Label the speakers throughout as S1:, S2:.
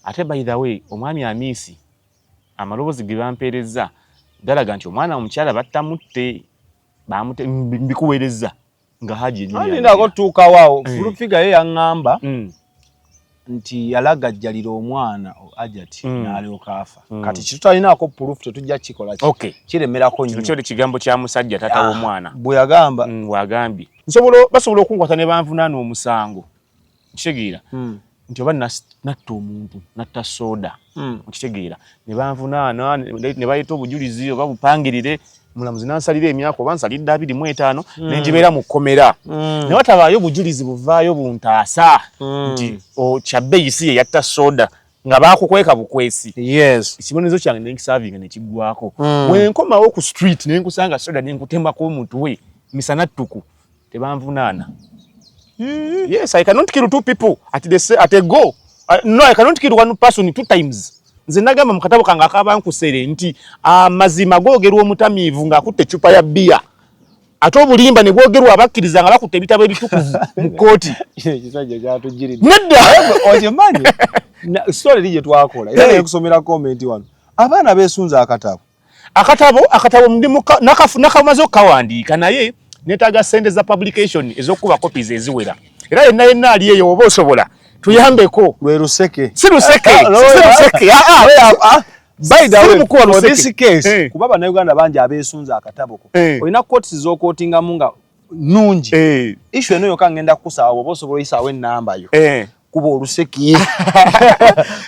S1: Ate by the way omwami Amiisi amaloboozi ge bampeerezza galaga nti omwana omukyala battamutte baamute mbikuweerezza nga haji enyinako tutuukawo awo
S2: eh. fulufiga ye yaŋŋamba mm. nti yalagajjalira omwana ajati mm. n'alyoka afa mm. kati kitutalinaako pulufu tetujja kukikola kiremerako nyo ekigambo kya musajja
S1: taata ah, w'omwana bwe yagamba
S2: bwagambye
S1: basobola okunkwata ne banvunaana omusango kitegeera hmm. nti oba natta omuntu natta soda hmm. okitegeera nebanvunaana nebayita obujulizi oba bupangirire mulamuzi nansalira emyaka oba nsalidde abiri mu etaano hmm. nenjibeera mu kkomera ne watabaayo obujulizi buvaayo buntaasa nti kyabeyisi ye yatta soda nga bakukweka bukwesi ekibonerezo kyange nenkisavinga nekiggwako wenkomawo ku street nenkusanga soda nenkutema ku omutwe misana ttuku Tebanvunaana. Mm-hmm. Yes, I cannot kill two people at the same, at a go. Uh, no, I cannot kill one person two times. Nze nagamba mu katabo kange akabankusere nti amazima ah, googerwa omutamiivu ng'akutte eccupa ya bbiya ate obulimba ne bwogerwa abakkiriza nga bakutte ebitabo ebitukuvu mu kkooti.
S2: Nedda!
S1: Okimanyi?
S2: Sitole eri gye twakola era nekusomera komenti wano. Abaana beesunze akatabo. akatabo akatabo ndi muka nakafu nakamaze okawandika naye netaga sente za publication ezokuba copies eziwera era yenna yenna ali eyo oba osobola tuyambeko lwe luseke si luseke ah, ah,
S1: si luseke ah, ah, ah, ah.
S2: By the way, for this case, hey. Eh. kuba bana Uganda banja abesunza akatabo ko. Hey. Eh. Oyina courts zo quotinga munga nungi. Hey. Eh. Issue eno yoka ngenda kusawa obosobola isawe namba yo. Hey. kuba oluseki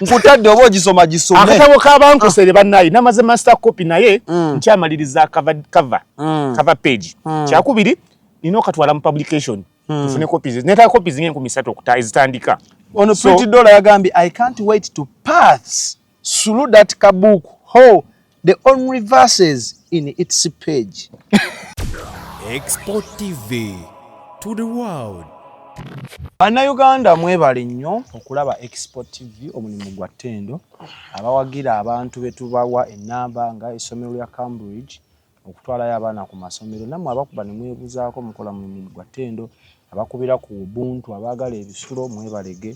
S2: nkutadde oba ogisoma gisome akatabo
S1: kabankosere ah. banaye namaze master copy naye mm. nkyamaliriza cover, cover, mm. cover page mm. kyakubiri nina okatwala mu publication mm. tufune copies netala copies nga enkumi satu okuta ezitandika ono so, pretty
S2: dollar yagambye i can't wait to pass through that kabuku ho the only verses in its page export
S3: tv to the world
S2: bannayuganda mwebale nnyo okulaba export tv omulimu gwa ttendo abawagira abantu betubawa enamba nga essomero lya cambridge okutwalayo abaana ku masomero nammwe abakuba ne mwebuzaako mukola mulimu gwa ttendo abakubira ku ubuntu abaagala ebisulo mwebalege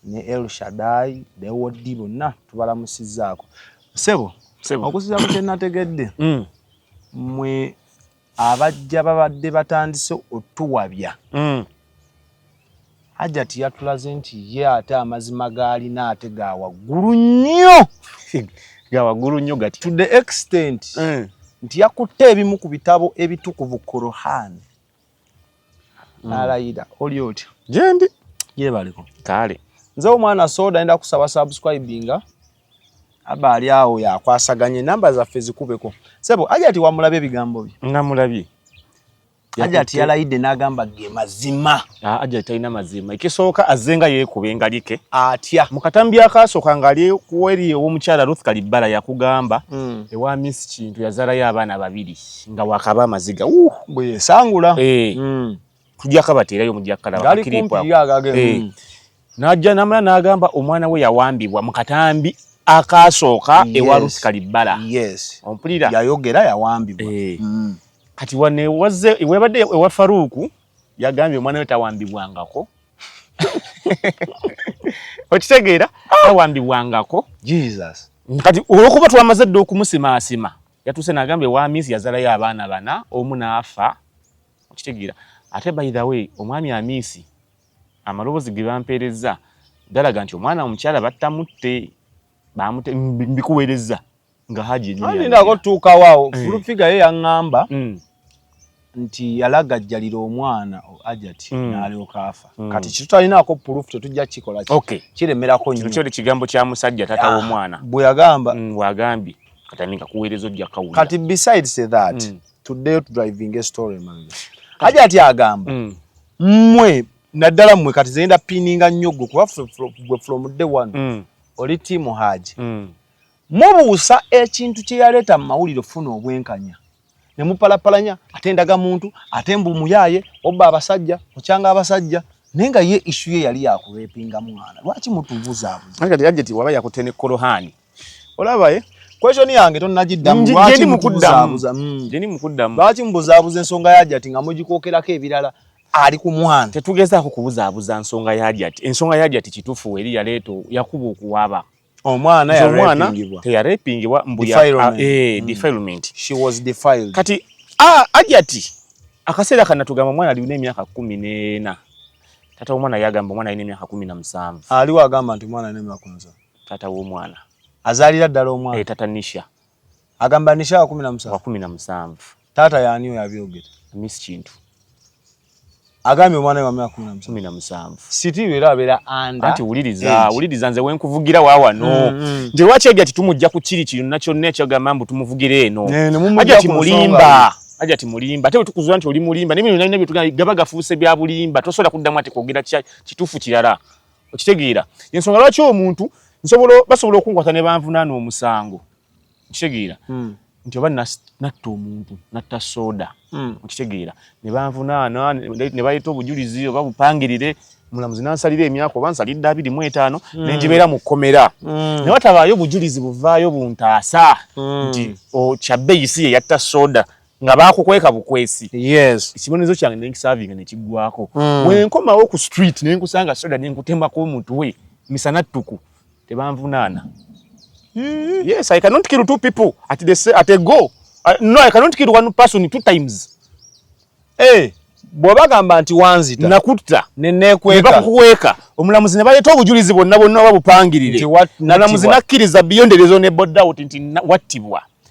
S2: ne el shadai dewodi bonna tubalamusizzaako sebo okusiza ku kyenategedde mm. mwe abajja babadde batandise otuwabya mm. hajati yatulaze nti ye ate amazima gaalina ate ga waggulu nnyo ga waggulu nnyo gati to the extent mm. nti yakutte ebimu ku bitabo ebitukuvu korohani mm. n'alayira oli otya gyendi
S1: gyebaliko
S2: kaale
S1: nze omwana
S2: soda enda kusaba subscribinga aba ali awo yakwasaganye namba zaffe zikubeko sebo hajati wamulabye ebigambo bye namulabye Ajati yalayidde n'agamba ge mazima. Ah, Ajati talina
S1: mazima. Ekisooka azze nga yeekuba engalike. Atya. Mu katambi
S2: akaasooka
S1: ng'ali weri ow'omukyala Ruth Kalibbala yakugamba mm. ewa Miss Kintu yazaalayo abaana babiri nga wakaba amaziga. Uh, bwe yesangula.
S2: Eh. Mm.
S1: Tujja kabateerayo mujja kalaba. Gali kumpi ye agage. Eh.
S2: Mm.
S1: N'ajja n'amala n'agamba omwana we yawambibwa mu katambi akaasooka ewa Ruth Kalibbala. Yes. Ompulira? Yayogera yawambibwa.
S2: Eh. Mm. Kati
S1: wane wazze webadde ewa Faruuku yagambye omwana we tawambibwangako. Okitegeera? Ah! Tawambibwangako. Jesus.
S2: Kati olwokuba
S1: twamaze dda okumusimaasima yatuuse n'agambye wa Amiisi yazalayo abaana bana omu n'afa. Okitegeera? Ate by the way omwami Amiisi amaloboozi ge bampeerezza galaga nti omwana omukyala battamutte bamute mbikuweerezza nga haji enyinako tuukawo awo
S2: eh. fulufiga ye yaŋŋamba mm. nti yalagajjalira omwana ajati mm. n'alyoka afa mm. kati kitutalinako pulufu tetujja kukikola kiremerako nyo kino kigambo kya musajja
S1: tata ah, w'omwana bwe yagamba
S2: bwagambye
S1: kati ani kakuweereza ojja kawulira kati besides
S2: that tuddeyo tudrivinga estory manga hajati agamba mwe naddala mwe kati zenda pininga nnyo gwe kuba gwe from day one mm. oli tiimu haaji mm. mubuusa ekintu kye yaleeta mu mawulire funa obwenkanya ne mupalapalanya ate ndaga muntu ate mbu muyaye obba abasajja okyanga abasajja naye nga ye isu ye yali yakureepinga mwana lwaki mutubuzaabuzakati ajeti waba
S1: yakutene korohani olaba eh?
S2: question yange tonagiddamu gyendi mukuddamu gyendi mukuddamu
S1: lwaki mubuzaabuza ensonga
S2: ya jati nga mugikookerako ebirala ali ku mwana tetugezaako kubuzaabuza
S1: nsonga ya jati ensonga ya jati kitufu eri yaleeta yakuba okuwaba
S2: omwana omwana teyarepingibwa
S1: mbudefilement eh,
S2: kati ah,
S1: ajati akaseera kana tugamba omwana alina emyaka kumi n'ena tata omwana yagamba omwana alina emyaka kumi na musanvu aliwo agamba nti
S2: omwana alina emyaka kumi na musanvu Tata w'omwana.
S1: Azalira ddala
S2: omwana. Eh, tata Nisha.
S1: Agamba Nisha
S2: wa kumi na musanvu. Wa kumi na musanvu. Tata yani oyo abyogera. Miss Kintu. Agambye omwana wa myaka kumi na musanvu.
S1: Siti era abeera
S2: anda. Anti wuliriza,
S1: wuliriza nze wenkuvugira wa wano. Mm, mm. Nti lwaki ajja titumujja ku kiri kiri nakyo ne kyagamba mbu tumuvugira eno. Ajja timulimba. Ajja timulimba. Ate tukuzwa nti oli mulimba. Nemi nina byo tugamba gaba gafuuse bya bulimba. Tosobola kuddamu ati kwogera kituufu kirala. okitegeera yensonga lwaki omuntu nsobola basobola okunkwata ne banvunaana omusango okitegeera hmm. nti oba natta omuntu natta soda hmm. okitegeera ne banvunaana ne baleeta obujulizi oba bupangirire mulamuzi nansalira emyaka oba nsalidde abiri mu etaano hmm. ne ngibeera mu kkomera ne watabaayo obujulizi buvaayo buntaasa nti oh, kyabbeyi si ye yatta soda nga bakukweka bukwesi yes ekibonerezo kyange nenkisavinga nekiggwako mm. wenkomawo ku street nenkusanga soda nenkutemako omutwe misana ttuku tebanvunaana mm. yes i cannot kill two people at, the, at a go uh, no i cannot kill one person two times hey. Eh.
S2: bwebagamba nti wanzita nakutta
S1: nenekwekakukweka omulamuzi ne baleeta obujulizi bwonna bwonna oba bupangirire nalamuzi nakkiriza biyonderezo ne bodout nti wattibwa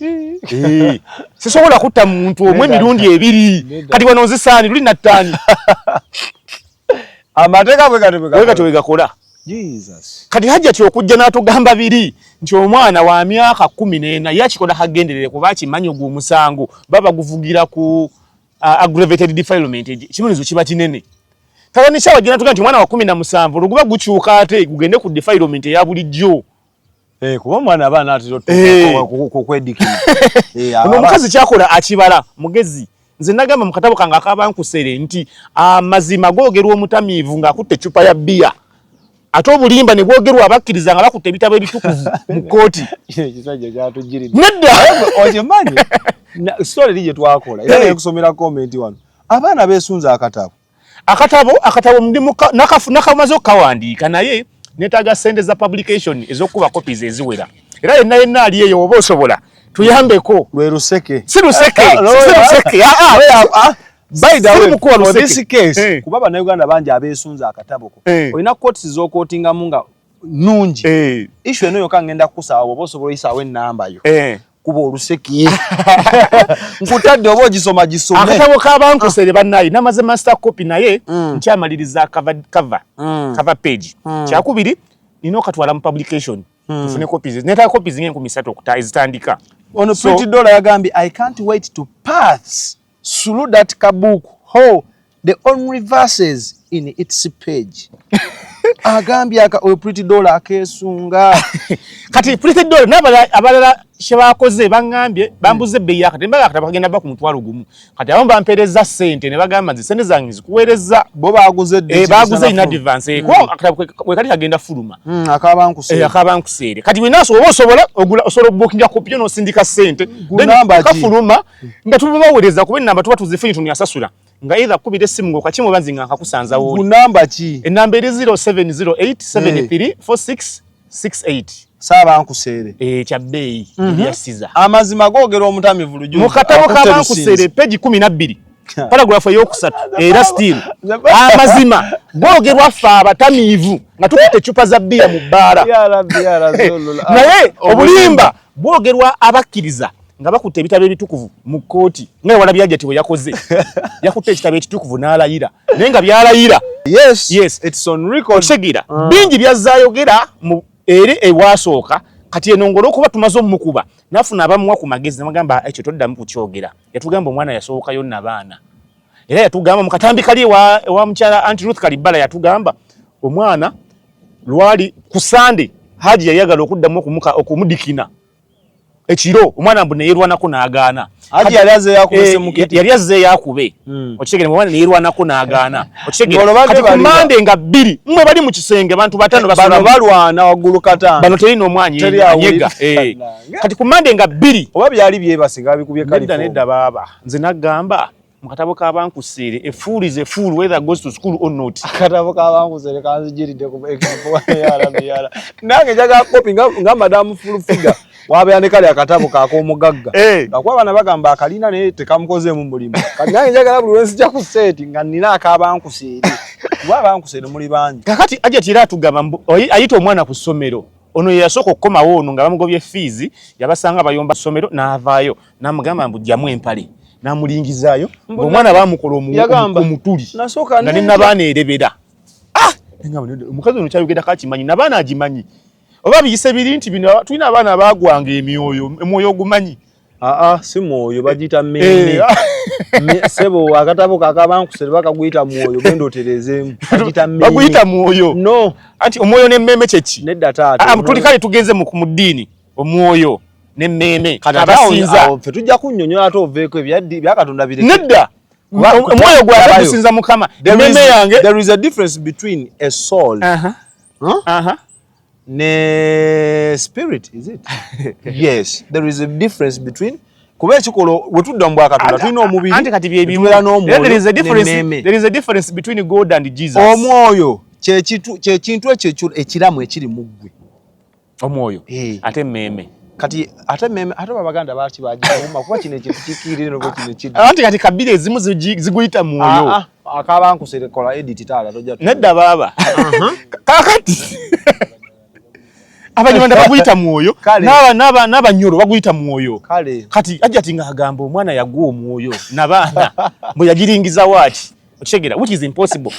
S1: Eh, sisobola kutta muntu omu emirundi ebiri kati wano nzisaani luli nattaani
S2: amateeka bwegatyo bwegakola
S1: kati hajjati okujja n'atugamba biri nti omwana wa myaka kumi n'ena ye akikola kagenderere kuba akimanyi ogwo omusango baba guvugira ku uh, aggravated defilement ekibonizo kiba kinene kala nikyawa gye natuga nti omwana wa kumi na musanvu oluguba gukyuka ate gugende ku defilement eya bulijjo Eh, kuba
S2: omwana aba anatera okwedikira eh. eh, ono
S1: omukazi kyakola akibala mugezi nze nagamba mu katabo kange akabankusere nti amazima googerwa omutamiivu ng'akutte eccupa ya bbiya ate obulimba ne bwogerwa abakkiriza nga bakutte ebitabo ebitukuvu mu kkooti
S2: nedda
S1: okimanyi
S2: sitole eri gye twakola era nekusomera komenti wano abaana beesunza akatabo akatabo akatabo ndimuka nakafu nakamaze okawandiika naye netaga sente za publication ezokuba copies eziwera era yenna yenna ali eyo oba osobola tuyambeko lwe luseke si luseke ah, ah,
S1: si luseke ah, ah
S2: by the way for this case hey. Eh. kuba bana Uganda banja abesunza akatabo ko hey. Eh. oyina courts zo courtinga munga nungi hey. Eh. issue eno yoka ngenda kusawa oboso boyisa we namba yo hey. kuba oluseki nkutadde oba ogisoma gisome akatabo kabankusere
S1: banaye namaze master copy naye mm. nkyamaliriza cover, cover, mm. cover page mm. kyakubiri nina okatwala mu publication mm. tufune copies netala copies ngenkumi satu okuta ezitandika ono so, pretty
S2: dollar yagambye i can't wait to pass through that kabuku ho the only verses in its page agambye aka oyo pretty dollar akesunga kati
S1: pretty dollar nabala abalala shebakoze bangambye bambuze hmm. beya kati mbala kati bagenda baku mutwalo gumu kati abo bampereza sente ne bagamba nze sente zange zikuwereza bo baguze de
S2: eh, baguze in advance
S1: hmm. ko kati kati agenda fuluma hmm, akaba nkusere eh, akaba nkusere kati winaso obo sobola ogula osoro booking ya kopyo no sindika sente then kafuluma nga tuba bawereza kuba enamba tuba tuzifunye tuni asasula nga either kubira essimu nga okakimu oba nzinga nkakusanza woli kunamba ki enamba
S2: eri 0708734668
S1: saaba nkuseere
S2: eh, kya bbeeyi
S1: mhm. yasiza amazima googera
S2: omutamivu lujuzi mu katabo ka bankuseere
S1: peji kumi na bbiri paragrafu eyokusatu era still amazima googerwa ffe abatamiivu nga tukuta ecupa za bbiya mu bbaala naye obulimba bwogerwa abakkiriza nga bakutte ebitabo ebitukuvu mu kkooti nga ewala byajati bwe yakoze yakutte ekitabo ekitukuvu n'alayira naye nga byalayira
S2: okitegera ah. bingi
S1: byazzayogera eri ewasooka kati eno ngolo okuba tumaze omukuba nafuna abamuwa ku magezi namugamba ekyo toddamu kukyogera yatugamba omwana yasookayo nabaana era yatugamba mukatambi kali ewa mukyala anti ruth kalibbala yatugamba omwana lwali ku sande haji yayagala okuddamu okumudikina ekiro omwana mbu neyerwanako nagaana eh,
S2: yali azze yakube
S1: hmm. okitegere omwana neyerwanako nagaana okitegekati ku mande nga bbiri mwe bali mu kisenge bantu batano balwana
S2: waggulu katano bano terina omwanya
S1: anyega eh. kati ku mande nga bbiri oba byali byebasiga
S2: bikubye kalifo nedda baaba nze
S1: nagamba mu katabo k'abankuseere a fool is a fool whether goes to school or not akatabo k'abankuseere
S2: kanzijiridde ku example nange njaga kopi nga madamu full figure wabeera ne kali akatabo kak'omugagga eh. ngakuba abaana bagamba akalina naye tekamukozeemu mulimu kati nange njagala buli lwenzija ku seeti nga nina ak'abankuseere kuba abankuseere muli bangi kakati ajati era atugamba
S1: ayita omwana ku ssomero ono yeyasooka okukomawo ono nga bamugobye fiizi yabasanga bayomba ssomero n'avaayo namugamba mbu jamu empale namulingizaayo omwana bamukola omutuli nga ne nabaana erebera ah! omukazi ono kyayogera kakimanyi nabaana agimanyi oba biyise biri nti bino tulina abaana bagwanga emyoyo emwoyo ogumanyi aa si
S2: mwoyo bagiyita mmeeme eh, ah. sebo akatabo kakabankusere bakaguyita mwoyo genda oterezeemu baguyita
S1: mwoyo no anti
S2: omwoyo n'emmeeme
S1: kyeki nedda taata ah, tuli
S2: kale tugenze
S1: mu ddiini omwoyo n'emmeeme abasinza ffe tujja kunnyonnyola
S2: ate oveeko ebyaddi byakatonda bireke nedda
S1: omwoyo gwange gusinza mukama emmeeme yange there is a difference
S2: between a soul uh -huh. Huh? Uh -huh. ne spirit is it yes there is a difference between kuba ekikolo wetudda mu bwakatonda tulina omubiri kati byebibeera
S1: n'omwoyoomwoyo
S2: kyekintu ekyo ekiramu ekiri mu ggwe omwoyo
S1: eh. ate meme kati ate
S2: meme ate abaganda baaki bagiuma kuba kino ekintu kikiirire noba kino kiri anti kati kabiri ezimu
S1: ziguyita mwoyo ah, ah, akaba nkuserekola
S2: edit taala toja nedda baaba
S1: uh-huh. kakati abanyarwanda baguyita mwoyo n'abanyoro baguyita mwoyo kati ajja ti nga agamba omwana yagwa omwoyo nabaana mbu yagiringiza waaki okitegera which is impossible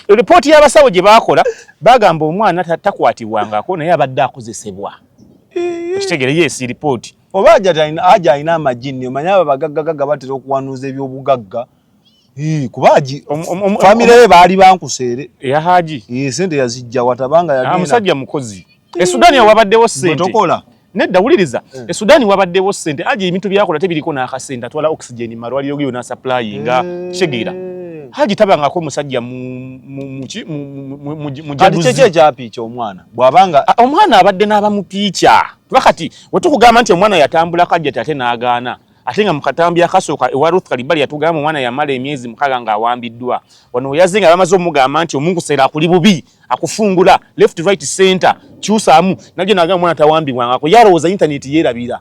S1: report ya basawo je bakola bagamba omwana takwatibwa ngako naye abadde akozesebwa okitegera yes report oba aja
S2: alina amajinni omanya abo bagaggagagga batera okuwanuuza ebyobugagga kuba haji famire ye baali bankuseere eya haji
S1: sente yazijja
S2: watabanga yamusajja mukozi
S1: e sudani awabaddewo sente nedda
S2: wuliriza
S1: eh. e sudani wabaddewo sente haji ebintu byakola tebiriko n'akasente atwala oxygen mu malwaliro geyo n'asaplayinga eh. kitegeera haji tabangako musajja
S2: mujaduzikyekyapi kyomwana bwabanga ah, omwana abadde
S1: n'abamupiica kuba kati wetukugamba nti omwana yatambula kajjati ate n'agaana ate nga mukatambi akasooka ewa ruth kalibali yatugamba omwana yamala emyezi mukaga ng'awambiddwa wano weyaze nga bamaze omugamba nti omunkuseera akuli bubi akufungula left right center kyusamu najo naga mwana tawambibwa ngako yalowooza internet yerabira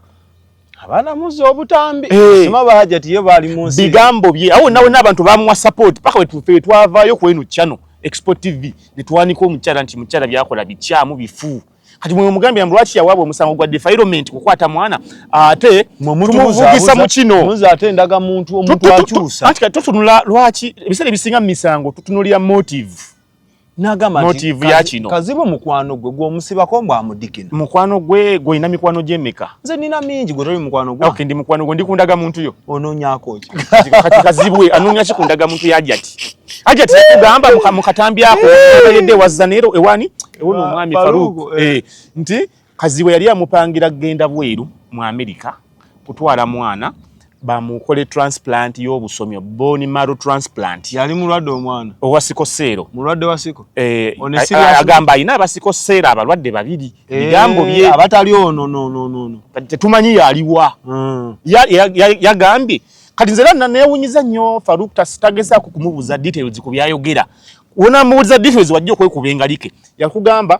S1: abana
S2: muzo obutambi hey. Eh. sima baja tiye bali munsi bigambo bye awo nawe
S1: nabantu bamwa support paka wetu fe twavayo kwenu channel export tv netwaniko muchara nti muchara byakola bichamu bifu kati mwe mugambi ya mlwachi ya wabo musango gwa defilement kukwata mwana ate mumuvugisa mu kino muza ate ndaga muntu
S2: omuntu achusa ati katotunula
S1: lwachi bisale bisinga misango tutunulya motive nagamba
S2: motive ya kino
S1: kazibu mukwano gwe
S2: gwo musiba ko mba mudikina mukwano gwe gwe
S1: ina mikwano je meka nze nina mingi gwe
S2: toli mukwano gwe okay ndi mukwano gwe ndikundaga
S1: muntu yo ononya ko ki
S2: kati kazibu we
S1: anonya ki kundaga muntu ya jati ajati kugamba mukatambi ako yede wazanero ewani ewono mwami faruku eh. eh nti Kazibwe yali amupangira kugenda bweru mu Amerika kutwala mwana bamukole transplant y'obusomyo bone marrow transplant. Yali mulwadde omwana
S2: owa siko seero,
S1: mulwadde wa siko
S2: eh, agamba
S1: alina abasiko seero abalwadde babiri eh, bigambo bye abatali ono no no
S2: no no tetumanyi
S1: yaliwa mm. yagambye ya, ya kati nze era newunyiza nnyo Farouk tagezaako kumubuuza details ku byayogera wonamubuuliza details wajja okwekuba engalike yakugamba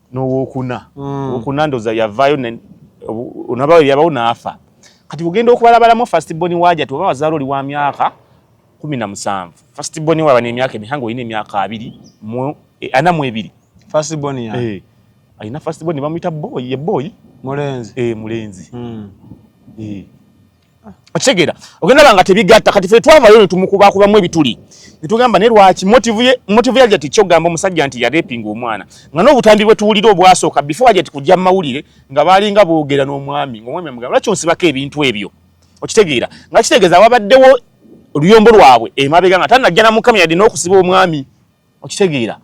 S1: nowokuna mm. okuna ndoza yavayo onabawe yabawo naafa kati ogenda okubalabalamu fast boni waja tuba wazalo oli wa myaka kumi na musanvu fast boni waba nemyaka emihango olina emyaka abiri mu e, ana mu ebiri fast
S2: boni ya eh, alina fast
S1: boni bamuyita boyi ye boyi mulenzi eh, mulenzi mm. eh. okitegeera ogenda banga tebigatta kati fe twavayo netumukubaakubamu ebituli netugamba ne lwaki motivu ye motivu yaja ti kyogamba omusajja nti yarepinga omwana nga n'obutambi bwe tuwulira obwasooka before aja ti kujja mawulire nga baalinga boogera n'omwami ngaomwami amugamba lwaki onsibako ebintu ebyo okitegeera nga kitegeeza wabaddewo oluyombo lwabwe emabega nga tanajja namukami yadde n'okusiba omwami okitegeera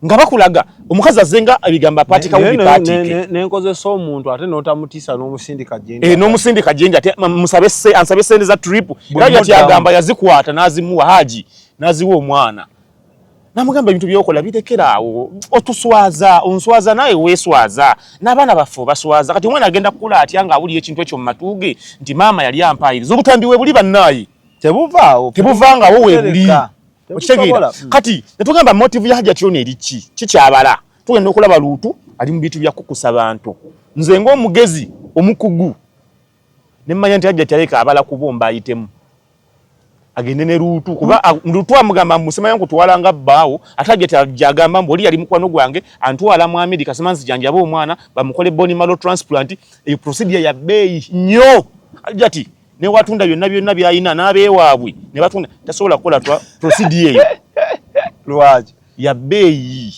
S1: nga bakulaga omukazi azenga ebigambo apatika wubi patike nenkozesa omuntu
S2: ate notamutisa nomusindika jenga e eh, nomusindika jenga ate
S1: musabe se ansabe sente za trip era yati agamba yazikwata nazimuwa haji naziwa omwana namugamba ebintu byokola birekera awo otuswaza onswaza naye weswaza n'abaana baffe obaswaza kati omwana agenda kukula atya nga awulira ekintu ekyo mu matuuge nti maama yali ampayiriza obutambi webuli bannaayi tebuvaawo tebuvangawo webuli okitegeera mm. kati netugamba motive ya hajati yona eri ki kikyabala tugenda okulaba luutu ali mu bintu byakukusa bantu nze ngaomugezi omukugu nemanya nti hajati aleka abala kubomba ayitemu agende ne luutu kuba mm. luutu amugamba musemanya nkutwala nga bbaawo ate hajati ajagamba mbu oli yali mukwano gwange antwala mu amerika sema nzijanjaba omwana bamukole boni malo transplant eyo procedure ya beeyi nnyo hajati ne watunda byonna byonna byalina n'abeewaabwe ne batunda tasobola kukola twa prosidi eyo lwaki
S2: ya bbeeyi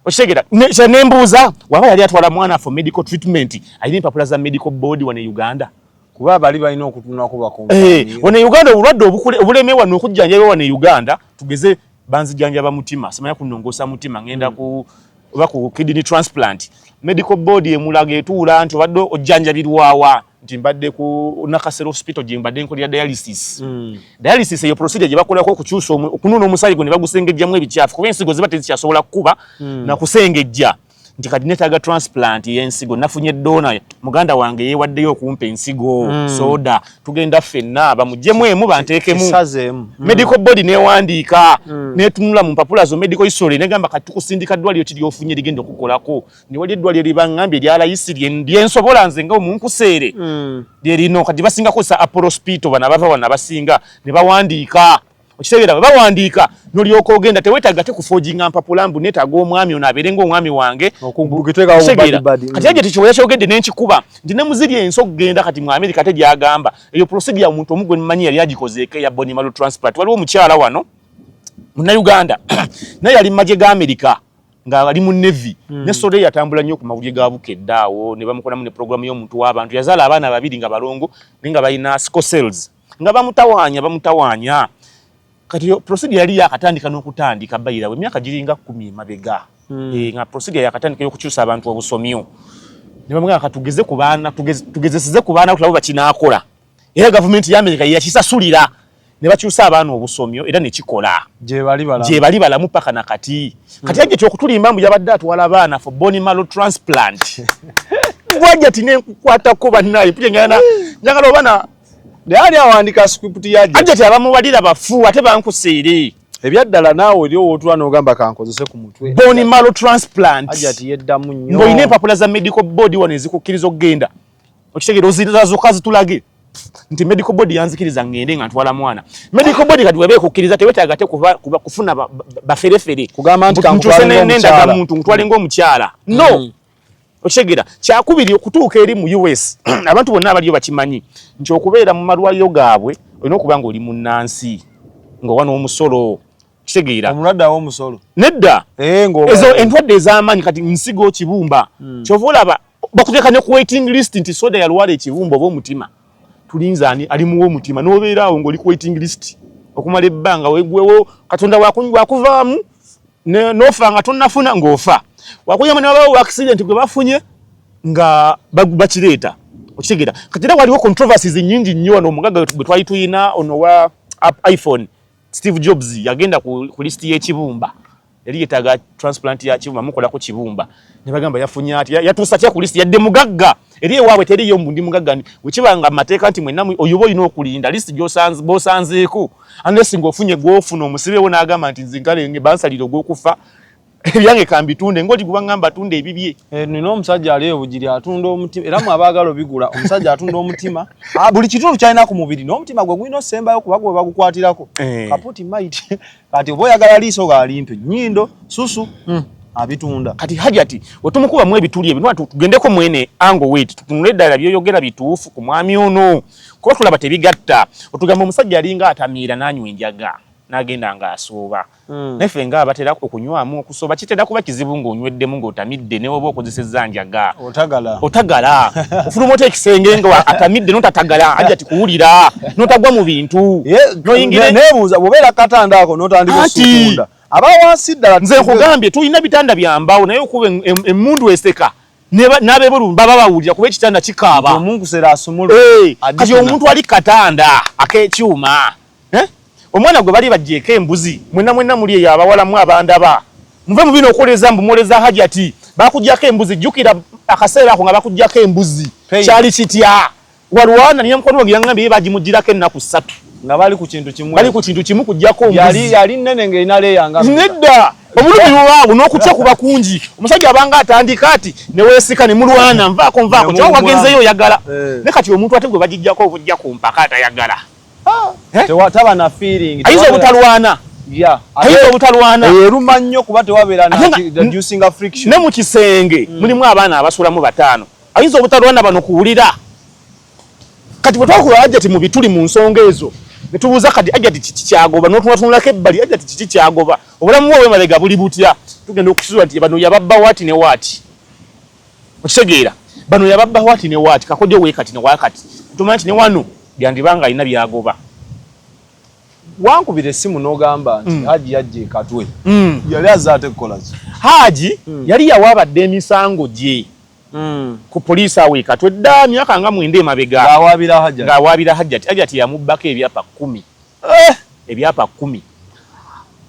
S1: okitegera kye nembuuza waba yali atwala mwana for medical treatment alina empapula za medical board wano e uganda kuba bali balina
S2: okutunako bakonwano eh, e uganda
S1: obulwadde obulemewa nokujjanjabibwa wano e uganda tugeze banzijanjaba mutima simanya kunongosa mutima ngenda ku oba ku kidney transplant medical board emulaga etuula nti obadde ojjanjabirwawa nti mbadde ku nakasero hospital gye mbadde nkolera dialysis mm. dialysis eyo procedure gye bakolako okukyusa okunona omusaayi gwe ne bagusengejjamu ebikyafu kuba ensigo ziba tezikyasobola kukuba mm. na kusengejja nti kati netaaga transplant yensigo nafunye dona muganda wange yewaddeyo okumpa ensigo mm. soda tugenda ffenna bamujemu emu bantekemu mm. medical body newandiika mm. netunula mu mpapula zo medical history negamba kati tukusindika ddwaliro ki lyofunye ligenda okukolako newali eddwaliro libaŋambye lyalayisi lyensobola nze nga omunkuseere mm. lyerino kati basinga kozesa apollo spito bana bava wana basinga nebawandiika okitegeera bwe bawandiika nolyoka ogenda tewetaaga te kufoginga mpapula mbu netaaga omwami ono abeere ngaomwami wange kati egyo tekiwera kyogedde nenkikuba nti ne muziri ensi okugenda kati mu amerika te gyagamba eyo prosidia omuntu omu gwe mmanyi yali agikozeeko eya bonimalo transplant waliwo omukyala wano munauganda naye yali mu magye ga amerika ng'ali mu nevi hmm. ne sole yatambula nnyo ku mawulire ga bukedde awo ne bamukolamu ne programu y'omuntu w'abantu yazaala abaana babiri nga balongo naye nga balina scocells nga bamutawaanya bamutawaanya kati procedure yali yakatandika n'okutandika bayirawo emyaka giringa kkumi emabega hmm. eh, nga procedure yakatandika y'okukyusa abantu obusomyo ne bamugamba katugeze ku baana tugezeseze ku baana kulabo bakinaakola era gavumenti y'amerika yeyakisasulira ne bakyusa abaana obusomyo era ne kikola gyebali
S2: balamu
S1: paka na kati hmm. kati yajja kyokutulimba mbu yabadde atwala abaana for bony malo transplant gwajja ti nenkukwatako bannaye njagala obaana naye ani awandika
S2: script ya ajati abamuwalira
S1: bafu ate bankusiiri ebyaddala naawe
S2: oli owootula n'ogamba kankozese ku mutwe boni malo transplant
S1: ajati yeddamu nnyo
S2: ng'olina empapula za medical
S1: board wano ezikukkiriza okugenda okitegeera ozirazoka zitulage nti medical board yanzikiriza ngende nga ntwala mwana medical board kati weba ekukkiriza tewetaaga te kufuna baferefere kugamba nti
S2: kankubalinga omukyala muntu nkutwalinga
S1: omukyala no mm. okitegera kyakubiri okutuuka eri mu us abantu bonna abaliyo bakimanyi nti okubeera mu malwaliro gaabwe olina okuba nga oli munnansi nga owa n'omusolo kitegeera omulwadde awa omusolo
S2: nedda eh,
S1: ezo endwadde ez'amaanyi kati nsigo kibumba hmm. kyova olaba bakuteeka ne ku waiting list nti soda yalwala ekibumba oba omutima tulinze ani alimuwa omutima nobeera awo ngaoli ku waiting list okumala ebbanga wegwewo katonda wakuvaamu nofa nga tonafuna ngaofa wakuyamba nabawo accident gwe bafunye nga bakireeta okitegera kati era waliwo controversies nyingi nnyo wano omugaga gwe twali tuyina ono wa iphone steve jobs yagenda ku list yekibumba yali yetaga transplant ya kibumba mukola ku kibumba ne bagamba yafunya ati yatusa kya kulisi yadde mugagga eri ewawe teri yo mbundi mugagga ni wekibanga mateka nti mwenna oyobo ino okulinda list jo sans bo sanzeeko unless ngo ofunye gofu no musibe wona agamba nti zinkale nge bansaliro go kufa ebyange kambitunde ngoli kuba ngamba tunde ebibye eh nino omusajja ali
S2: obujiri atunda omutima era mu abagala obigula omusajja atunda omutima ah buli kitundu kyalina ku mubiri no omutima gwe gwino sembayo kuba gwe bagukwatirako eh. kaputi might kati oba oyagala liiso ga limpi nyindo susu mm. abitunda kati hajati
S1: wetumukuba mu ebituli ebyo nwa tugendeko mwene ango wait tutunule ddala byoyogera bituufu ku mwami ono kuba tulaba tebigatta otugamba omusajja alinga atamiira nanywa enjaga nagenda nga asuuba mm. naye ffe nga abatera okunywamu so bakitera kuba kizibu ng'onyweddemu ng'otamidde ne woba okozesezza njaga otagala otagala ofuluma ota ekisenge nga atamidde notatagala aja tikuwulira notagwa mu bintu noyingiranebuuza bwobeera
S2: katanda ako notandika osukunda aba wansi ddala nze nkugambye tulina
S1: bitanda byambawo naye okuba emundu eseka nabebulu baba bawulira kuba ekitanda kikaaba kati
S2: omuntu
S1: ali katanda akekyuma eh? omwana gwe bali bajeeko embuzi mwena mwena muli eyo abawalamu abandaba muve mu bino okoleza mbu mwoleza hajati bakujjako embuzi jukira akaseera ako nga bakujjako embuzi kyali kitya walwana niye mukwano wange yangambye ye bagimujjirako ennaku ssatu nga bali ku kintu
S2: kimu bali ku kintu kimu kujjako yali yali
S1: nene nga ina
S2: leya nga nedda obulumi
S1: bwabo n'okutya kuba kungi omusajja abanga atandika ati ne weesika ne mulwana nvaako nvaako kyoba wagenzeyo oyagala eh. ne kati omuntu ate gwe bagijjako obujja ku mpaka atayagala ah!
S2: taba na feeling ayinza
S1: obutalwana ayinza obutalwana eruma nnyo kuba
S2: tewabeera najusinga friction ne mu kisenge
S1: hmm. mulimu abaana abasulamu bataano ayinza obutalwana bano kuwulira kati bwe twakula ajati mu bituli mu nsonga ezo ne tubuuza kati ajati kiki kyagoba notunatunulako ebbali ajati kiki kyagoba obulamu bwe obwemabega buli butya tugenda okusizwa nti bano yababba waati ne waati okitegeera bano yababba wati ne wati kakojo wekati ne wakati tumanya nti ne wano byandiba nga alina byagoba wankubira
S2: essimu n'ogamba nti mm. haji yajja ekatwe mm. yali aze ate kukolaki haji mm. yali
S1: yawaabadde emisango gye mm. ku poliisi awo ekatwe dda myaka nga mwenda emabega ng'awaabira hajjati hajjati yamubbako ebyapa kkumi eh! ebyapa kumi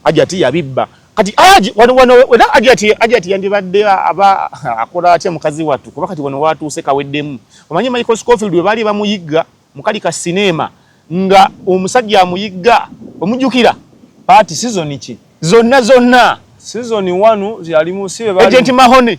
S1: ajati yabibba kati aji wano wano wena ajati ajati yandibadde aba akola atya mukazi watu kuba kati wano watuuse kaweddemu omanyi Michael Scofield webali bamuyigga mukali ka sinema nga omusajja amuyigga omujukira party
S2: season ki zonna zonna
S1: season
S2: 1 yali musibe bali agent mahone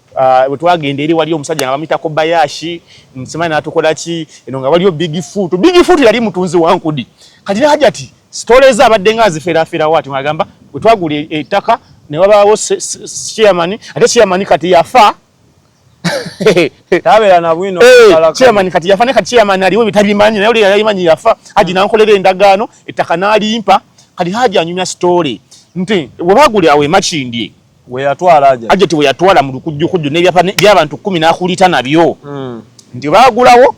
S1: Ah, wetwagenda eri wali omusajja nga bamuyita kobayashi simanyi natukola ki eno nga waliyo big foot big foot yali mutunzi wa nkudi kati ne hajati sitole eza abadde nga aziferaaferawo ati agamba wetwagula e, ettaka ne wabaawo chairman ate chairman kati yafa
S2: tabeera na bwino eh, chairman kati yafa
S1: ne kati chairman aliwo bitabimanyi naye oli yayimanyi yafa haji nankolera endagaano ettaka n'alimpa kati haji anyumya sitole nti webaguli awo emakindye weyatwala
S2: aja ajati weyatwala mu
S1: lukujjukujju n'ebyapa by'abantu kkumi n'akulita nabyo hmm. nti baagulawo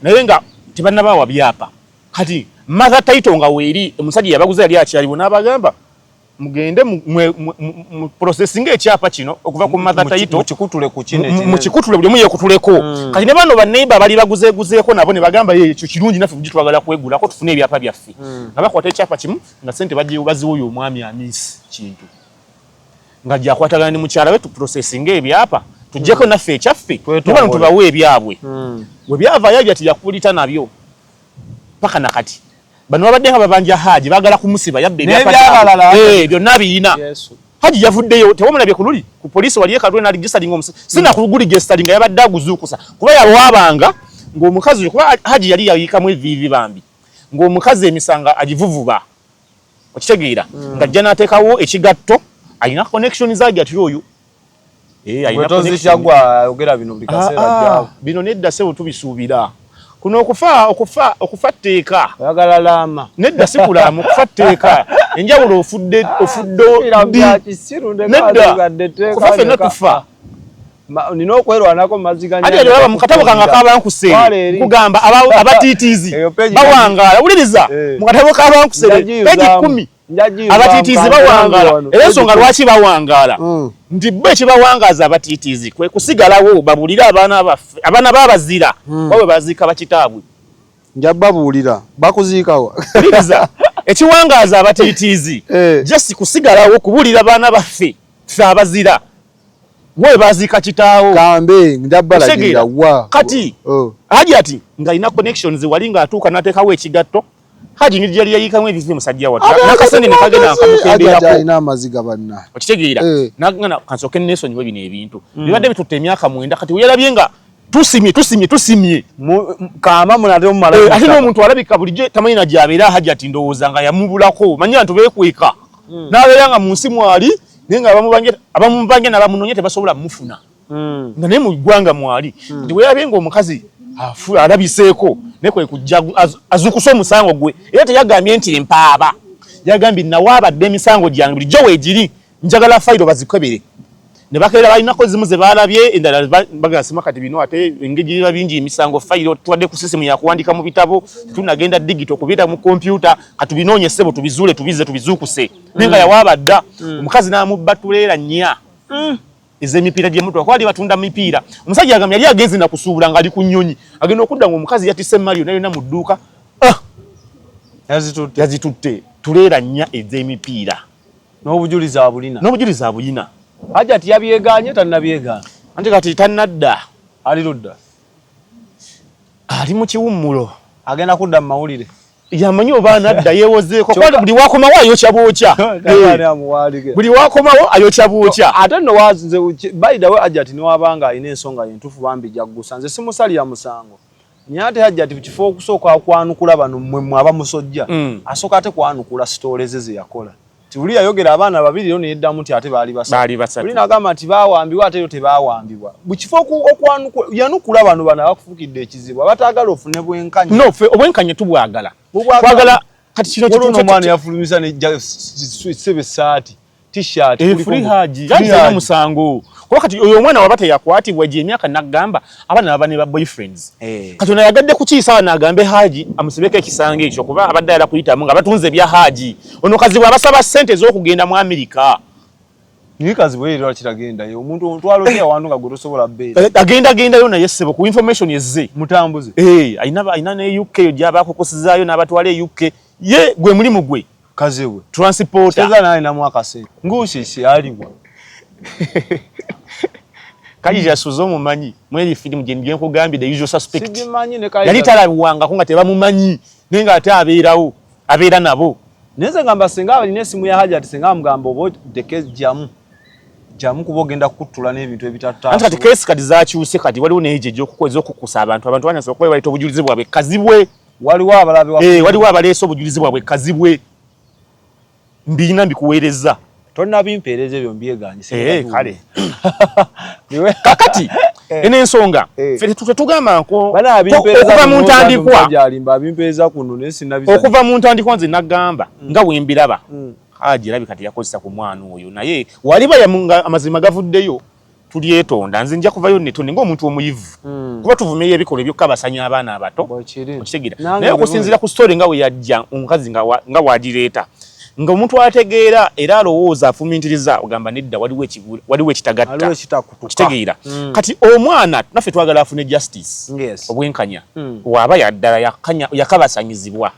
S1: naye nga tebannabaawa byapa kati matha taito nga weeri omusajja yabaguza yali akyaliwo n'abagamba mugende mu processing ekyapa kino okuva ku matha taito mukikutule ku kino mukikutule buli omu yekutuleko hmm. kati ne bano banneiba bali baguzeeguzeeko nabo ne bagamba ye ekyo kirungi naffe bugi twagala kwegulako tufune ebyapa byaffe hmm. nga bakwata ekyapa kimu nga sente baziwa oyo omwami amiisi kintu nga gyakwatagana ne mukyala we tuprosesinga ebyapa tujjeko hmm. naffe ekyaffe tubano tubawe ebyabwe hmm. we byavayo ebya teyakubulita nabyo paka nakati bano babadde nga babanja haji bagala kumusiba yabbe ebyabalala eh, byonna biyina haji yavuddeyo tewamulabye ku luli ku poliisi wali ekalule naligisalinga omusi sina ku luguli gesitalinga yabadde aguzuukusa kuba yawabanga ng'omukazi kuba haji yali yayikamu eviivi bambi ng'omukazi emisanga agivuvuba okitegeera mm. nga ajja n'ateekawo ekigatto alina connection zagi atira oyo eh, ah,
S2: ah, bino nedda sebo
S1: tubisuubira kuno okufa okufa okufa tteeka oyagala laama
S2: nedda si kulaama
S1: okufa tteeka enjawulo ofudde ofudde nedda okufa fenna tufa nina
S2: okwerwanako mumaziganyaaba mukatabo kange
S1: akabankuse kugamba abatitiizi bawangaala wuliriza eh. mukatabo kabankuse peji kumi abatitiizi bawangaala era ensonga lwaki bawangaala hmm. nti bo ekibawangaaza abatitiizi kwe kusigalawo babulire abaana baffe abaana babazira hmm. bawe baziika bakitaabwe nja babuulira
S2: bakuziikawa wuliriza
S1: ekiwangaaza abatitiizi eh. jasi kusigalawo kubulira baana baffe fe abazira Wewe baziika kitaawo. Kambe ndabala
S2: gira
S1: wa. Kati oh.
S2: Haji
S1: ati ngalina connections wali nga atuuka
S2: natekawo
S1: ekigatto. Haji nidi yali yayika mwe bizi musajja watu. Nakasene nikage na akamukendera ko. Haji ina maziga banna.
S2: Okitegeera. Eh.
S1: Nagana kansoke neso nyiwe bine ebintu. Mm. Bibadde bitutte emyaka mwenda kati uyalabye nga tusimye tusimye tusimye
S2: kama munatemu mala eh, ate n'omuntu alabika bulijjo
S1: tamanyi nagyabeera hajati ndowooza nga yamubulako manya ntu beekweka mm. n'abeera nga mu nsi mwali naye nga abamubange nabamunonya tebasobola mufuna hmm. nga naye mu ggwanga mwali hmm. nti weyabye nga omukazi alabiseeko naye kwe kujja azukusa omusango gwe era teyagambye nti empaaba yagambye nawaabadde emisango gyange bulijjo weegiri njagala fayiro bazikebere ne bakeera balinako zimu ze baalabye endala bagasima kati bino ate engeri biba bingi emisango fayiro tuwadde ku sisimu yakuwandiika mu bitabo tunagenda digito kubiira mu kompyuta katubinoonye ssebo tubizuule tubize tubizuukuse naye nga yawaaba dda mm. omukazi n'amubba tuleera nnya mm. ez'emipiira gy'emutwa kuba ali batunda mipiira omusajja agamba yali agenze na kusuubula ng'ali ku nnyonyi agenda okudda ng'omukazi yatise mali yona yona mu dduuka ah! yazitutte tuleera nnya ez'emipiira n'obujulizi
S2: abulina n'obujulizi abulina hajati yabyegaanye tannabyegaana anti kati
S1: tannadda ali ludda ali mu kiwummulo agenda kudda mu
S2: mawulire yamanyi oba
S1: anadda yewozeeko kubanga buli wakomawo ayokya bwokya eh. buli wakomawo ayokya bwokya ate no waze
S2: by the way ajati ne wabanga alina ensonga yentufu bambi jaggusa nze simusalira musango naye ate ajati kifo okusooka kwanukula bano mmwe mmwe abamusojja mm. asooka ate kwanukula sitoole ze ze yakola Tuli yayogera abaana babiri yo neyeddamu nti ate baali basatu. Baali basatu. Tuli nagamba nti baawambibwa ate yo tebaawambibwa. Mu kifo yanukula bano bano abakufukidde ekizibu abataagala ofune bwenkanya. No, ffe obwenkanya
S1: tubwagala. Twagala kati kino kituufu. Waliwo omwana yafulumisa
S2: ne ssebe essaati t-shirt. Efuli eh, haji. Yaali
S1: talina musango. Kuba kati oyo omwana waba teyakwatibwa gy'emyaka n'agamba abaana baba ne ba boyfriends eh. kati ono ayagadde kukiisa abaana agambe haaji amusibeko ekisanga ekyo kuba abadde ayala kuyitamu nga batunze ebya haaji ono kazibwe abasaba sente ez'okugenda mu amerika naye
S2: kazibwe era lwaki tagendayo omuntu omutwalo oyo awantu nga gwe tosobola beera eh, agenda agendayo naye ssebo
S1: ku information ezze mutambuze eh,
S2: alina ne
S1: uk eyo gyaba akukusizaayo n'abatwala e uk ye gwe mulimu gwe kaziwe
S2: transport cheza naye na
S1: mwaka se
S2: ngushi si aliwa
S1: kaji ya suzo mu manyi mweli film je nje ko gambi the usual suspect siji manyi ne kaji yali tala
S2: wanga kunga teba mu
S1: manyi ninga ate abirawo abira nabo neze ngamba singa
S2: abali ne simu ya haja tisinga mgambo bo the case jamu jamu kuba ogenda kukutula n'ebintu ebitatta anti kati kesi kati
S1: zakyuse kati waliwo neeje gyokukweza okukusa abantu abantu banyasobola kuba baita obujulizi bwabwe kazibwe waliwo abalabe
S2: wa eh waliwo abaleese obujulizi
S1: bwabwe kazibwe mbiyina mbikuweereza tonna bimpeereza
S2: ebyo mbyeganye eh kale
S1: niwe kakati eh. ene nsonga eh. fete tutetugamba nko bana bimpeereza okuva mu ntandikwa jalimba bimpeereza kuno ne sinabisa okuva mu ntandikwa nze nagamba mm. nga wembiraba mm. haji labi kati yakozesa ku mwana oyo naye waliba ya amazima gavuddeyo tulyetonda nze nja kuvayo netonde ngaomuntu omuyivu hmm. kuba tuvumirira ebikolwa ebyokka basanya abaana abato okitegeera naye okusinziira ku story nga weyajja omukazi nga wagireeta nga omuntu ategeera era alowooza afumintiriza ogamba nedda waliwo ekitagatta okitegeera hmm. kati omwana naffe twagala afune justice obwenkanya hmm. waaba yaddala yakabasanyizibwa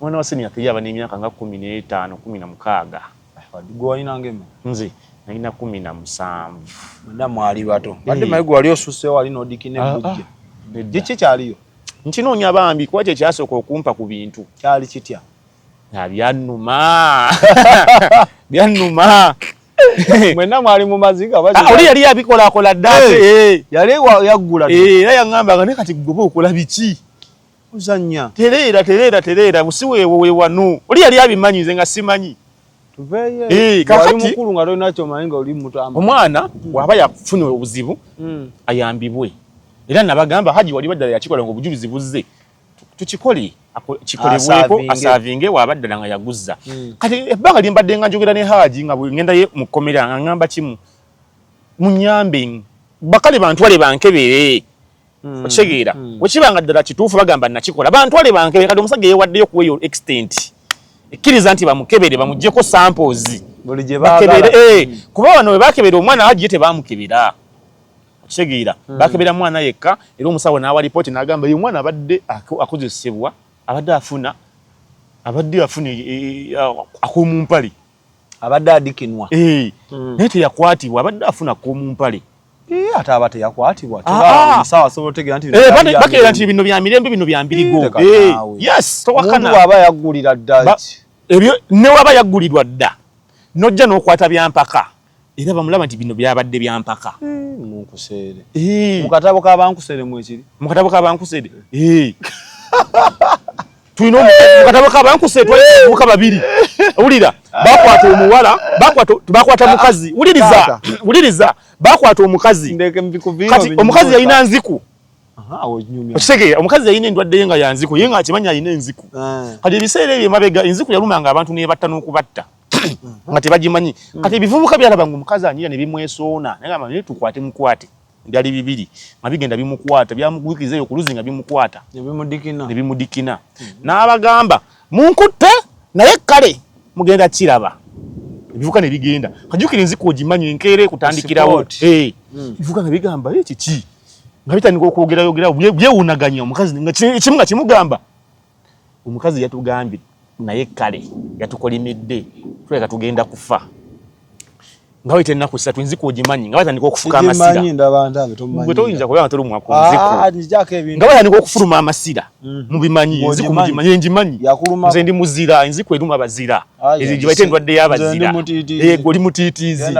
S2: Mwana wa senior
S1: three aba n'emyaka nga kumi n'etaano kumi na mukaaga. Gwe walina
S2: ng'eme? Nze nalina
S1: kumi na musanvu. Mwenna
S2: mwali bato. Badde maye gwe wali osusseewo wali n'odikina ebbujje. Kiki kyaliyo? Nkinoonya bambi
S1: kuba kye kyasooka okumpa ku bintu. Kyali kitya?
S2: Na byannuma.
S1: Byannuma.
S2: Mwenna mwali mu maziga oba kiki? Oli yali yabikolakola
S1: dda ate. Yali yaggula.
S2: Era yaŋŋamba nga
S1: ne kati gwe oba okola biki? Uzanya.
S2: Tereera, tereera,
S1: tereera. Busiweewo we wanu. Oli yali abimanyi nze nga simanyi. Tuveeyo. Eh,
S2: kakati. Wali mukulu nga lwe nakyo manyi nga oli muto ama. Omwana hmm. waba
S1: yafuna obuzibu hmm. ayambibwe. Era nabagamba haji wali badala yakikola ngo bujulizi buzze. Tukikole kikolebweko asavinge waba dala nga yaguzza. Hmm. Kati ebbanga limbadde nga njogera ne haji nga ngenda ye mukomera nga ngamba kimu. Munyambe. Bakale bantwale bankebere. mm. okitegeera mm. wekiba nga ddala kituufu bagamba nakikola bantwale bankebe kati omusajja yewaddeyo kuwa eyo extent ekkiriza nti bamukebere bamugjeko samples
S2: bakebere
S1: eh, mm. kuba bano webakebera omwana agiye tebamukebera okitegeera mm. bakebera mwana yekka era omusawo naawa lipooti nagamba eyo omwana abadde akozesebwa abadde afuna abadde afuna e, e, e, akomumpale abadde
S2: adikinwa eh, hmm. naye
S1: teyakwatibwa abadde afuna komumpale eh, ate aba
S2: teyakwatibwa ah, ah. omusawo asobola otegeera nti eh, bakeera nti bino bya
S1: mirembe bino bya mbirigo yes towakana aba
S2: yaggulira dda ebyo
S1: newaba yaggulirwa dda nojja n'okwata byampaka era bamulaba nti bino byabadde byampaka hmm, munkuseere
S2: mu katabo ka bankuseere mwekiri mu katabo ka bankuseere
S1: tulina mu katabo ka bankuseere twalimuka babiri wulira bakwata omuwala bakwata mukazi wuliriza wuliriza bakwata omukazi kati omukazi yalina nziku okitegeera omukazi yalina endwadde ye nga yanziku ye nga akimanyi alina enziku eh. kati ebiseera ebyo emabega enziku yalumanga abantu nebatta n'okubatta nga tebagimanyi mm. kati ebivubuka byalaba nga omukazi anyira ne bimwesoona nagamba naye tukwate mukwate byali bibiri nga bigenda bimukwata byamugwikiriza eyo ku luzzi nga bimukwata ne bimudikina mm. n'abagamba munkutte naye kale mugenda kiraba ebivuka ne bigenda kajukira enziko ogimanyi enkeera ekutandikirawo eh. mm. ebivuka nga bigamba e kiki nga bitandika okwogerayogerao byewunaganya omukazi ekimu nga kimugamba omukazi yatugambye naye kale yatukolimidde tuleka tugenda kufa nga wayita ennaku ssatu nziku ogimanyi nga batandika okufuka amasira gwe toyinza kubeera nga tolumwa ku nziku ah, nga batandika okufuluma amasira mm. mubimanyi enziku mugimanyi engimanyi nze ndi muzira enziku eruma abazira ah, ezo gye bayita endwadde y'abazira eh, oli mutiitiizi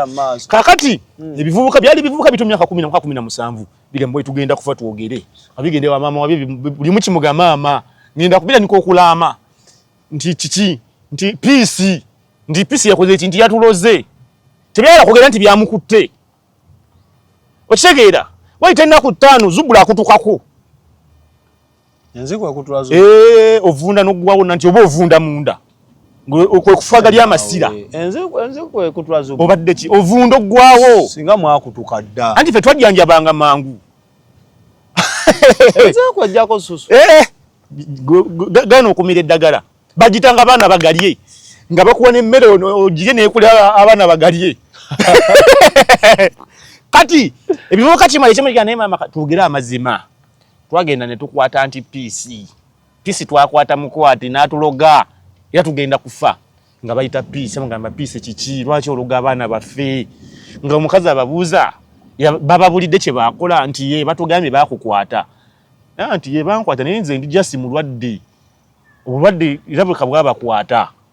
S1: kakati mm. ebivubuka byali bivubuka bitu myaka kumi na mwaka kumi na musanvu bigambo etugenda kufa twogere abigende wa mama wabi buli muki muga mama ngenda kubira niko okulama nti kiki nti peace nti peace yakoze ekintu yatuloze tebyala kogera nti byamukutte okitegeera wayita ennaku ttaano zubula akutukako Nze
S2: kwa kutwazo. Eh, ovunda no
S1: gwa wona nti obo ovunda munda. Ngo kwe kufaga lya masira. Enze enze kwe
S2: kutwazo. Obadde ki? Ovundo
S1: gwawo. Singa mwa kutuka
S2: dda. Anti fe twadya nja banga
S1: mangu.
S2: Enze kwa jako susu. Eh.
S1: Gano okumire dagara. Bajitanga bana bagalie. Nga bakuwa ne mere ojige ne kule abana bagalie. Kati ebivuka kimale kimale kana mama tugira amazima. twagenda ne tukwata nti piisi piisi twakwata mukwati n'atuloga era tugenda kufa nga bayita piisi mugamba piisi kiki lwaki ologa abaana baffe nga omukazi ababuuza bababulidde kye baakola nti ye batugambye baakukwata nti ye bankwata naye nze ndi jasi mulwadde obulwadde era bweka bwabakwata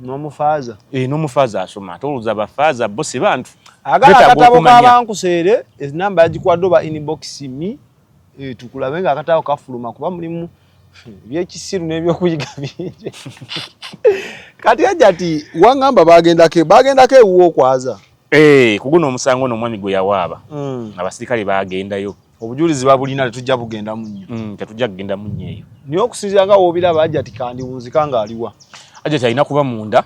S1: nomufaaza eh, nomufaaza asoma ate olowooza bafaaza bo si bantu agala akatabo
S2: kabankuseere enamba yagikwadde oba inbox mi eh, tukulabe nga akatabo kafuluma kuba mulimu ebyekisiru nebyokuyiga bingi kati aja ti wangamba bagendako bagendako ewuwo okwaza eh, kuguno
S1: omusango nomwami gweyawaaba mm. abasirikale bagendayo mm. obujulizi babulina
S2: tetujja bugenda munnyo mm, tetujja kugenda munnyo eyo
S1: naye okusinzira nga
S2: woobiraba ajati kandiwunzika ng'aliwa ajati alina kuba
S1: munda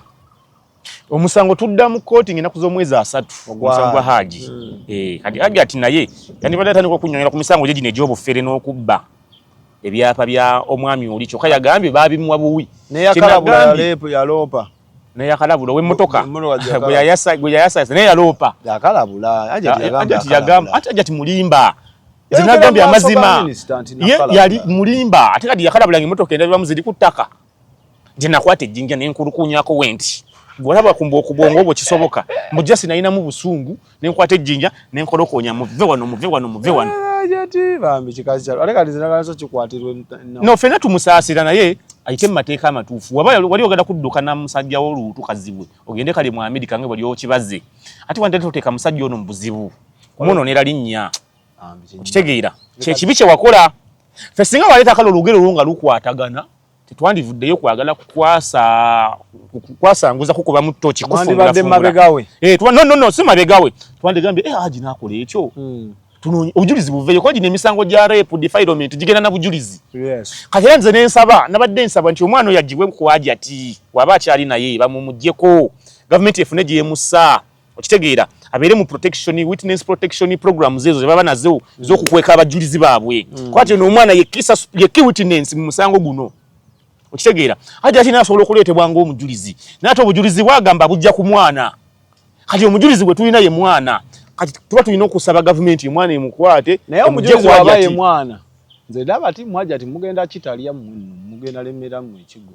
S1: omusango tudda mu kkooti ngenda kuza omwezi asatu omusango gwa haaji mm. eh, kati ajati naye yandibadde atandika okunyonyola ku misango gye gino egy'obufere n'okubba ebyapa bya omwami oli kyokka yagambye baabimuwa buwi naye akalabula yaleepo
S2: yaloopa naye yakalabula
S1: owemmotoka gwe yayasayasa naye yaloopa ajati mulimba zinagambye amazima ye yali mulimba ate kati yakalabula nga emmotoka endabibamu ziri ku ttaka nti nakwata ejjinja nenkulukunyako wenti gwolaba kumba okubwongo obwo kisoboka mujasi nayinamu busungu ne nkwata ejjinja ne nkolokonya muve wano muve wano muve wano jati
S2: bambi kikazi kyalo ate kati zinagala so kikwatirwe no fena
S1: tumusaasira naye ayite mu mateeka amatuufu waba wali ogenda kudduka na musajja wo luutu kazibwe ogende kali mu amerika nga wali okibaze ate wanda toteeka musajja ono mu buzibu kumwonoonera linnya okitegeera kyekibi kye wakola fe singa waleeta kale olugero olwo nga lukwatagana tetwandivuddeyo kwagala kukwasanguza kukuba mu ttoki kufunulafunula eh, no,
S2: no, no, si
S1: mabegawe twandigambye eh, aji
S2: nakola
S1: ekyo hmm. tunonye obujulizi buveyo kuba gino emisango gya rape defilement gigenda na bujulizi yes. kati era nze
S2: nensaba
S1: nabadde nsaba nti omwana oyo agibwe kuwaji ati waba akyali naye bamumugyeko gavumenti efune gyemussa okitegeera abeere mu protection witness protection programs ezo zebaba nazo zokukweka abajulizi baabwe mm. kwati ono omwana yeki witness mu musango guno okitegeera hati ati nasobola okuleetebwa ngaomujulizi naye ate obujulizi bwagamba bujja ku mwana kati omujulizi gwe tulina ye mwana kati tuba tulina okusaba gavumenti omwana emukwate naye omujulizi waba
S2: ye mwana nze ndaba ti mwaja ti mugenda kitalya mugenda lemera mu ekigo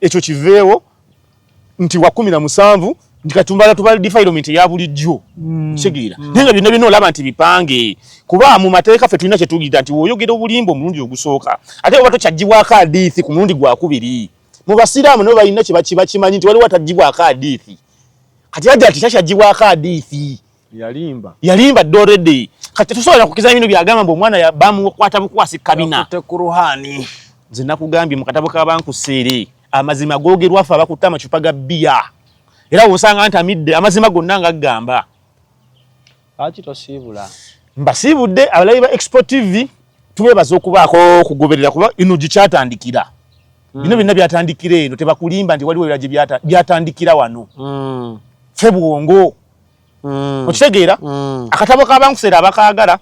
S1: ekyo kiveewo nti wa kumi na musanvu nti katumbala tubala defilement ya bulijjo mm. kitegeera mm. naye nga byonna byonna olaba nti bipange kuba mu mateeka ffe tulina kyetugida nti woyogera obulimba omulundi ogusooka ate oba tokyagibwako adiithi ku mulundi gwakubiri mu basiraamu nabo balina kyebakimanyi nti waliwo atagibwako adiithi kati aja ti takyagibwako adiithi yalimba yalimba dde already kati tusobola kukiza bino byagamba mbu omwana bamukwata bukwasi kabina tekuruhani
S2: nze nakugambye
S1: mu katabo k'abankusiiri amazima googerwa ffe abakutte amacupa ga bbiya era wosanga nti amidde amazima gonna nga gamba lwaki
S2: tosiibula mbasiibudde
S1: abalabi ba expo tv tubebaza okubaako kugoberera kuba ino gikyatandikira hmm. bino byonna byatandikira eno tebakulimba nti waliwo era gye byatandikira wano hmm. ffe bwongo mm. okitegeera mm. akatabo kabankuseera abakaagala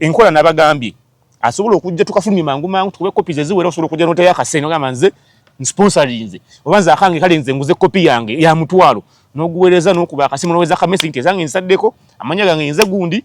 S1: enkola nabagambye asobola okujja tukafulumye mangu mangu tukube kopi zeziwera osobola okujja noteyo akasente ogamba nze nsponsorinze oba nze akange kale nze nguze kopi yange ya mutwalo noguweereza nokuba akasimu noweza kamesi nti ezange nsaddeko amanya gange nze gundi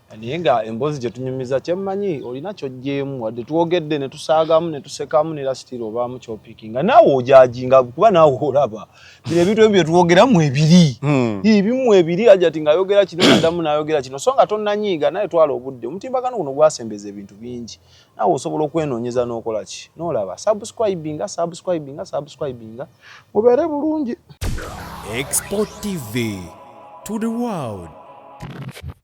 S2: naye nga emboozi gye tunyumiza kyemmanyi olina kyojjeemu wadde twogedde ne tusaagamu ne tusekamu ne lasitiri obaamu kyopiki nga naawe ojajinga kuba naawe olaba bino ebintu ebi bye twogeramu ebiri hmm. ebimu ebiri ajati ng'ayogera kino nadamu n'ayogera kino so nga tonnanyiiga naye twala obudde omutimbagano guno gwasembeza ebintu bingi naawe osobola okwenoonyeza n'okola ki n'olaba subscribinga subscribinga subscribinga mubeere bulungi
S3: export tv
S2: to
S3: the world